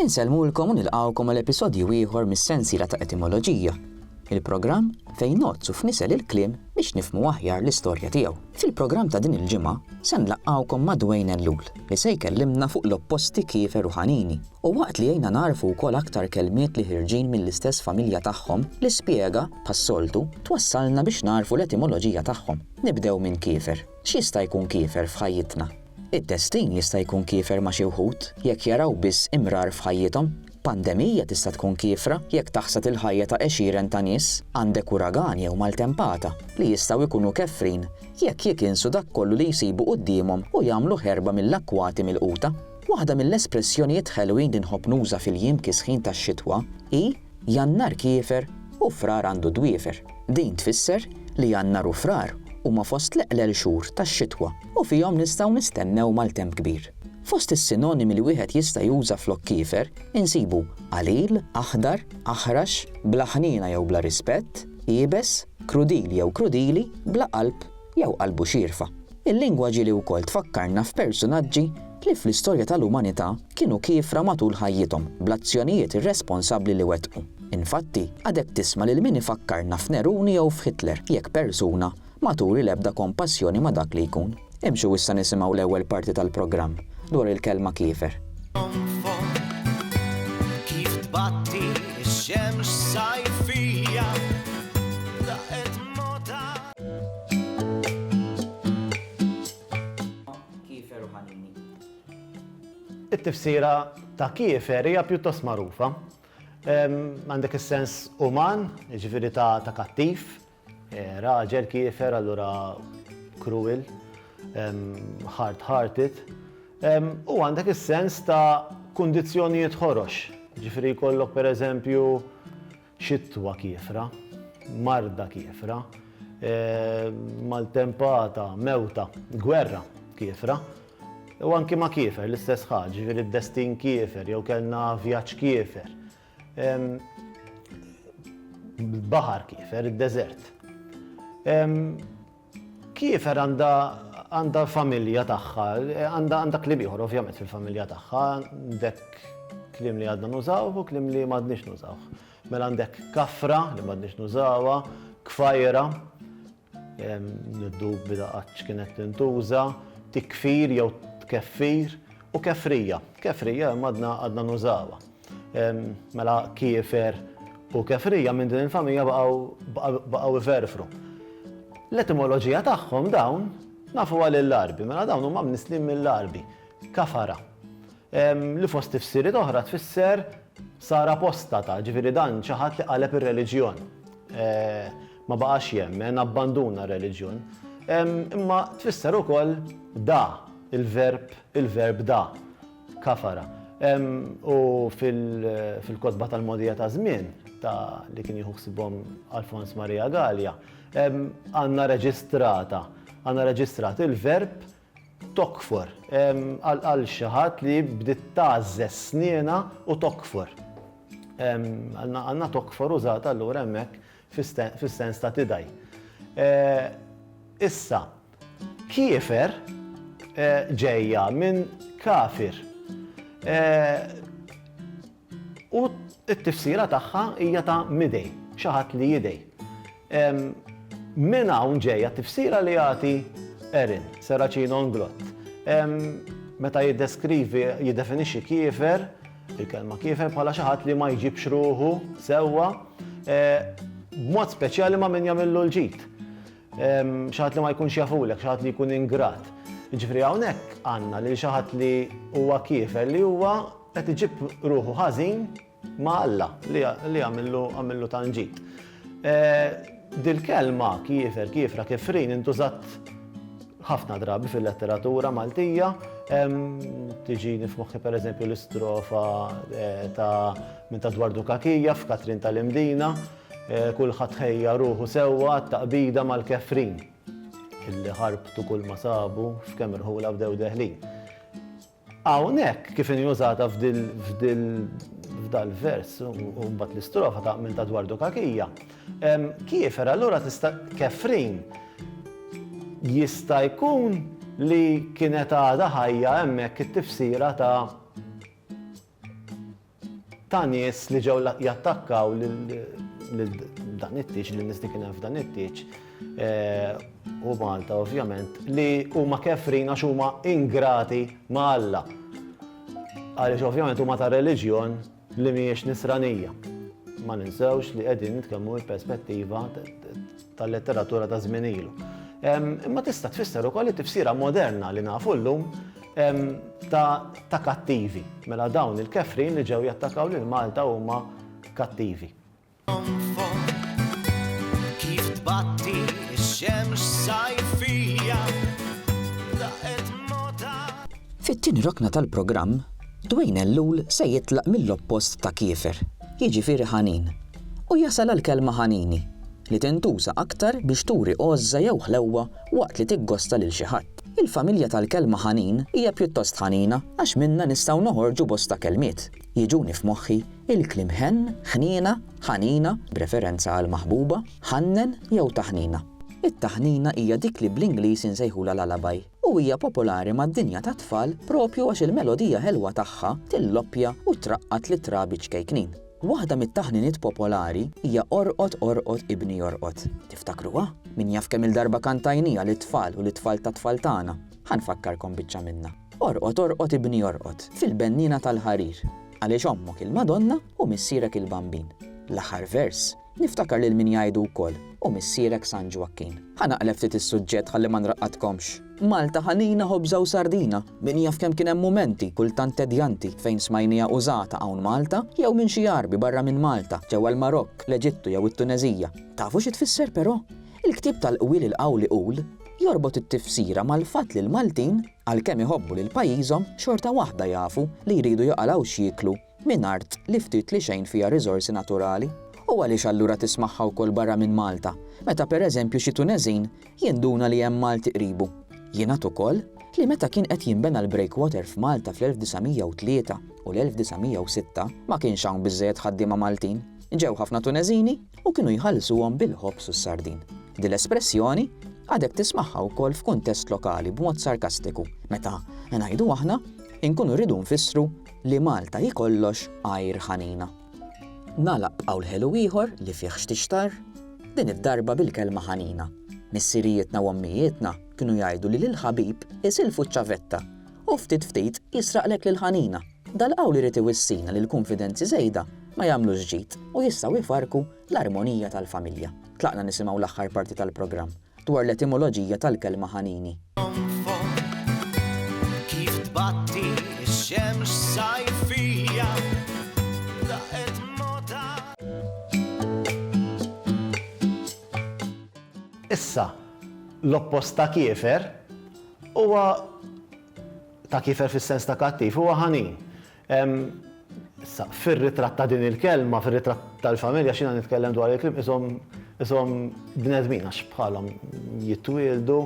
Insellmulkom u nilqgħukom għal episodju ieħor mis-sensiela ta' Etimoloġija, il-programm fejn ngħoddsu f'nisel il-kliem biex nifhmu aħjar l-istorja tiegħu. Fil-programm ta' din il-ġimgħa se nlaqqgħukom ma' Dwayne Ellul li se jkellimna fuq l-opposti kiefer u ħanini u waqt li għinna nagħrfu wkoll aktar kelmiet li ħirġin mill-istess familja tagħhom li spjega, bħas-soltu, twassalna biex nagħrfu l-etimoloġija tagħhom. Nibdew minn kiefer. X'jista' jkun kiefer f'ħajjitna? It-testin jista' jkun kiefer ma' xi wħud jekk jaraw biss imrar f'ħajjithom. Pandemija tista' tkun kiefra jekk taħsad il-ħajja ta' għexieren ta' nies. Għandek uragan jew maltempata li jistgħu jkunu kefrin jekk jikinsu dak kollu li jsibu quddiemhom u jagħmlu ħerba mill-akkwati milquta. Waħda mill-espressjonijiet ħelwin li nħobb nuża fil-jiem kisħin tax-xitwa hi, Jannar kiefer u Frar għandu dwiefer. Din tfisser li Jannar u Frar huma fost l-eqlel xhur tax-xitwa u fihom nistgħu nistennew maltemp kbir. Fost is-sinonimi li wieħed jista' juża flok kiefer insibu qalil, aħdar, aħrax, bla ħniena jew bla rispett, iebes, krudil jew krudili, bla qalb jew qalbu xierfa. Il-lingwa ġieli wkoll tfakkarna f'persunaġġi li fl-istorja tal-umanità kienu kiefra matul ħajjithom bl-azzjonijiet irresponsabbli li wettqu. Infatti, għadek tisma' lil min ifakkarna f'Neruni jew f'Hitler, jekk persuna ma turi l-ebda kompassjoni ma' dak li jkun. Imxu issa nisimgħu l-ewwel parti tal-programm dwar il-kelma kiefer. Kif tbatti x-xemx sajfija laqgħet mgħoddha. Kiefer u ħanini. It-tifsira ta' kiefer hija pjuttost magħrufa. Għandek is-sens uman, jiġifieri ta' kattiv, raġel kiefer allura cruel, hard hearted, u għandek is-sens ta' kundizzjonijiet ħorox, jiġifieri jkollok pereżempju Xitwa kiefra, marda kiefra, maltempata, mewta, gwerra kiefra, u anki ma' kiefer l-istess ħaġa, jiġifieri d-destin kiefer jew kellna vjaġġ kiefer. Baħar kiefer, id-deżert. Kiefer għandha għandha familja tagħha, għandha għandha kliem ieħor ovvjament fil-familja tagħha, għandek kliem li għadna nużawh u kliem li m'għadniex nużawh. Mela għandek kafra li m'għadniex nużawha, kfajra, niddu bida qaċ kienet tintuża, tikfir jew tkeffir u kefrija. Kefrija għadna għadna nużawha. Mela kiefer u kefrija minn din il-familja baqgħu iferfru. L-etimoloġija tagħhom dawn nafu għal l-arbi, mela dawn huma mnislim mill-arbi, kafara. Li fost tifsiriet oħra tfisser sar apostata, ġifieri dan xi ħadd li qaleb ir-reliġjon. Ma baqax jemmen, abbanduna r-reliġjon. Imma tfisser ukoll da, il-verb il-verb da. Kafara. U fil-kotba tal-mogħdija ta' żmien ta' li kien jieħu ħsibhom Alfons Maria Galea, għandna reġistrata, għandna reġistrat il-verb tokfor għal xi ħadd li bdiet tgħażżeż snienha u tokfor. Għandna tokfor użata allura hemmhekk fis-sens ta' tidgħi. Issa, Kiefer ġejja minn kafir. U t-tifsira tagħha hija ta' midej, xi ħadd li jidej. Minn hawn ġejja t-tifsira li jagħti Erin, Serracino Nglott. Meta jiddeskrivi, jiddefinixxi kiefer, il-kelma kiefer bħala xi ħadd li ma jġibx ruħu sewwa, b'mod speċjali ma' min jagħmillu l-ġid. Xi ħadd li ma jkunx jafulek, xi ħadd li jkun ingrat. Jiġifieri hawnhekk għandna lil xi ħadd li huwa kiefer li huwa qed iġib ruħu ħażin ma' Alla li għamillu tanġid. Dil-kelma kiefer, kiefra, kifrin intużat ħafna drabi fil-letteratura Maltija. Tiġi nifmoħħi per eżempju l-istrofa eh, ta' minn ta' Dwardu Kakija f'Katrin tal-Imdina. Kulħadd ħejja ruħu sewwa għat-taqbida mal-kefrin, illi ħarbtu kull ma sabu f'kemm irħula bdew deħlin. Hawnhekk kif inhi użata f'dal-vers u mbagħad l-istrofa ta' minn ta' Dwardu Kakija, kiefer allura tista' kefrin jista' jkun li kienet għadha ħajja hemmhekk it-tifsira ta' ta' nies li ġew jattakkaw lil dan it-tieġ, lil nies li kien hemm f'dan it-tieġ eh, u Malta ovvjament, li huma kefrin għax huma ingrati ma' Alla. Għaliex ovvjament huma ta' reliġjon li mhijiex nisranija. Ma ninsewx li qegħdin nitkellmu il-perspettiva tal-letteratura ta' żmien ilu. Imma tista' tfisser ukoll it-tifsira moderna li nafu llum ta' kattivi. Mela dawn il-kefrin li ġew jattakaw lil Malta huma kattivi. Kif tbatti x-xemx sajfija daqet mota. Fit-tieni rokna tal-programm, Dwayne Ellul se jitlaq mill-oppost ta' Kieffer, jiġifieri Ħanin. u jasal għall-kelma ħanini, li tintuża aktar biex turi għożża jew ħlewwa waqt li tiggosta lil xi ħadd. Il-familja tal-kelma ħanin hija pjuttost ħanina għax minnha nistgħu noħorġu bosta kelmiet. Jiġuni f'moħħi il-kliem ħenn, ħniena, ħanina, b'referenza għall-maħbuba, ħannen jew taħnina. It-taħnina hija dik li bl-Ingliż insejħulha lullaby. u hija popolari mad-dinja tat-tfal proprju għax il-melodija ħelwa tagħha tilloppja u traqqad lit-trabi ċkejknin. Waħda mit-taħniniet popolari hija Orqod Orqod Ibni Jorqod. Tiftakruha? Min jaf kemm-il darba kantajnija lit-tfal u lit-tfal tat-tfal tagħna. Ħa nfakkarkom biċċa minnha. Orqod Orqod Ibni Jorqod, fil-benniena tal-ħarir, għaliex ommok il-Madonna u missierek il-Bambin. L-aħħar vers. Niftakar lil min jgħidu wkoll, u missierek San Ġwakkin. Ħa naqleb ftit is-suġġett ħalli ma nraqqadkomx. Malta ħanina ħobża u sardina, min jaf kemm kien hemm mumenti, kultant tedjanti, fejn smajniha użata hawn Malta, jew minn xi Għarbi barra minn Malta, ġewwa l-Marokk, l-Eġittu jew it-Tuneżija. Tafu xi tfisser però? Il-ktieb tal-qwiel il-qawl iqul, jorbot it-tifsira mal-fatt li l-Maltin, għalkemm iħobbu lil pajjiżhom, xorta waħda jafu li jridu joqalgħu x'jieklu, minn art li ftit li xejn fiha riżorsi naturali. U għaliex allura tismagħha wkoll barra minn Malta, meta per eżempju xi Tuneżin jinduna li hemm Malti qribu? Jingħad ukoll li meta kien qed jinbena l-breakwater f'Malta fl-1903 u l-1906 ma kienx hawn biżżejjed ħaddiema Maltin. Ġew ħafna Tuneżini u kienu jħallsuhom bil-ħobż u s-sardin. Din l-espressjoni għadek tismagħha wkoll f'kuntest lokali b'mod sarkastiku, meta, ngħidu aħna, inkunu rridu nfissru Li Malta hi kollox għajr ħanina. Nagħlaq b'qawl ħelu ieħor li fih xtixtar, din id-darba bil-kelma ħanina. Missirijietna u ommijietna kienu jgħidu li lill-ħabib isilfu ċ-ċavetta u ftit ftit jisraqlek l-ħanina. Dal-qawl irid iwissina li l-kunfidenzi żejda ma jagħmlux ġid u jistgħu jfarrku l-armonija tal-familja. Tlaqna nisimgħu l-aħħar parti tal-programm. dwar l-etimoloġija tal-kelma ħanini. Issa, l-oppost ta' kiefer huwa ta' kiefer fis-sens ta' kattiv huwa ħanin. Issa, fir-ritratt ta' din il-kelma, fir-ritratt tal-familja, x'jiena nitkellem dwar il-klieb, qishom bnedmin għax bħalhom jitwieldu,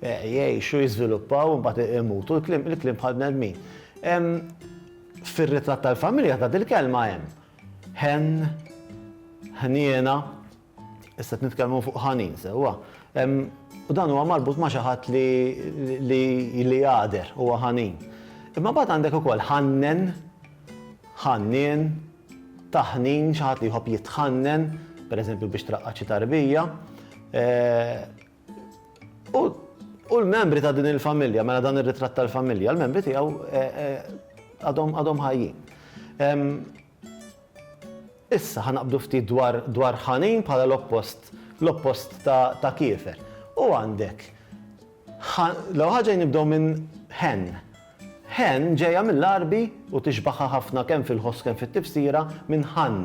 jgħixu, jiżviluppaw, imbagħad imutu, il-klieb bħal bnedmin. Fir-ritratt tal-familja ta' dil-kelma hemm ħenn, ħniena, Issa qed nitkellmu fuq ħanin sewwa. U dan huwa marbut ma' xi ħadd li jagħder, huwa ħanin. Imma mbagħad għandek ukoll ħannen, ħannien, taħnin, xi ħadd li jħobb jitħannen, pereżempju biex traqqaċ xi tarbija. Eh, u l-membri ta' din il-familja, mela dan ir-ritratt tal-familja, l-membri tiegħu eh, eh, għadhom ħajjin. Issa, ħa naqbdu ftit dwar dwar Ħanin bħala l-oppost l-oppost ta' ta' Kiefer. U għandek Ħa l-ewwel ħaġa nibdew minn Hen. Hen ġejja mill-Għarbi u tixbaħha ħafna kemm fil-ħoss kemm fit-tifsira minn Ħann.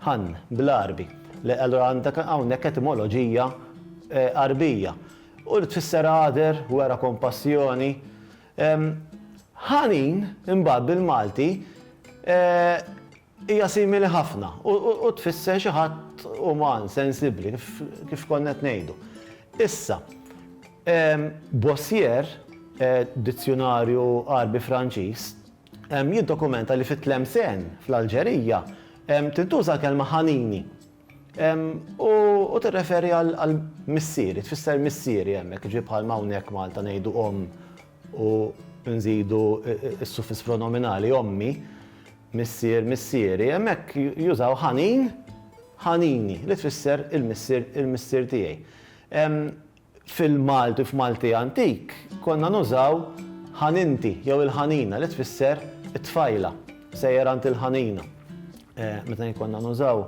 Ħann bl-Għarbi. Le allura għandek hawnhekk etimoloġija Għarbija. U li tfisser għader, wera kompassjoni. Ħanin, imbagħad bil-Malti, hija simili ħafna u tfisser xi ħadd uman, sensibbli, kif konna qed ngħidu. Issa, Bossier, dizzjunarju Għarbi-Franċiż, jiddokumenta li fit-Tlemcen, fl-Alġerija, tintuża l-kelma ħanini. U tirreferi għal missieri, tfisser missieri hemmhekk, jiġifieri bħalma hawnhekk Malta ngħidu omm u nżidu s-suffiss pronominali ommi, missier, missieri, hemmhekk jużaw ħanin, ħanini, li tfisser il-missier, il-missier tiegħi. Fil-Malti, f'Malti antik, konna nużaw ħaninti jew il-ħanina li tfisser it-tfajla. Sejjer għand il-ħanina. Meta jien konna nużaw,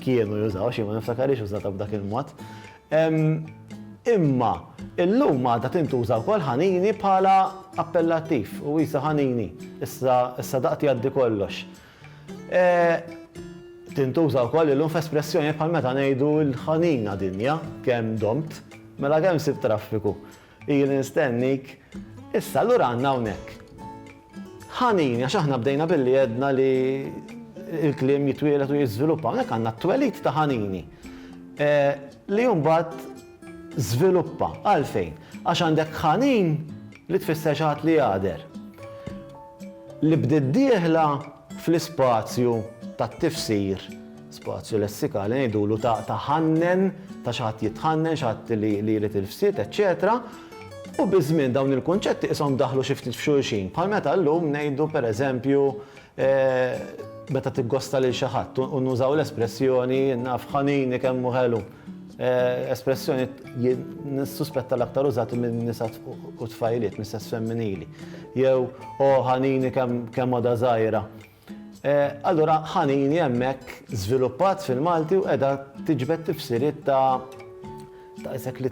kienu jużaw, xi ma niftakarix użata b'dak il-mod. Imma illum għadha tintuża wkoll ħanini bħala appellattiv u isa ħanini, issa daqt jgħaddi kollox. Tintuża wkoll illum f'espressjonijiet bħal meta ngħidu l-ħanina dinja kemm domt, mela kemm sibt traffiku, ili nstennik, issa allura għandna hawnhekk ħanin, għax aħna bdejna billi għedna li il-kliem jitwielet u jiżviluppa, hawnhekk għandna t-twelid ta' ħanini. Li mbagħad Żviluppa. Għalfejn? Għax għandek ħanin li tfisser xi ħadd li jagħder. Li bdiet dieħla fl-ispazju tat-tifsir, spazju lessikali, ngħidulu ta' ħannen, ta' xi ħadd jitħannen, xi ħadd li jrid il-fsied, eċċetera U biż-żmien dawn il-kunċetti qishom daħlu xi ftit f'xulxin. Bħal meta llum ngħidu pereżempju Meta tiggosta lil xi ħadd, u nużaw l-espressjoni jien naf ħanini kemm hu ħelu. Espressjoni jien nissuspetta l-aktar użati minn nisa u tfajliet mis-sess femminili. Jew o ħanini kemm għadha żgħira. Allura ħanini hemmhekk żviluppat fil-Malti u qiegħda tiġbed tifsiriet ta' ta' isek li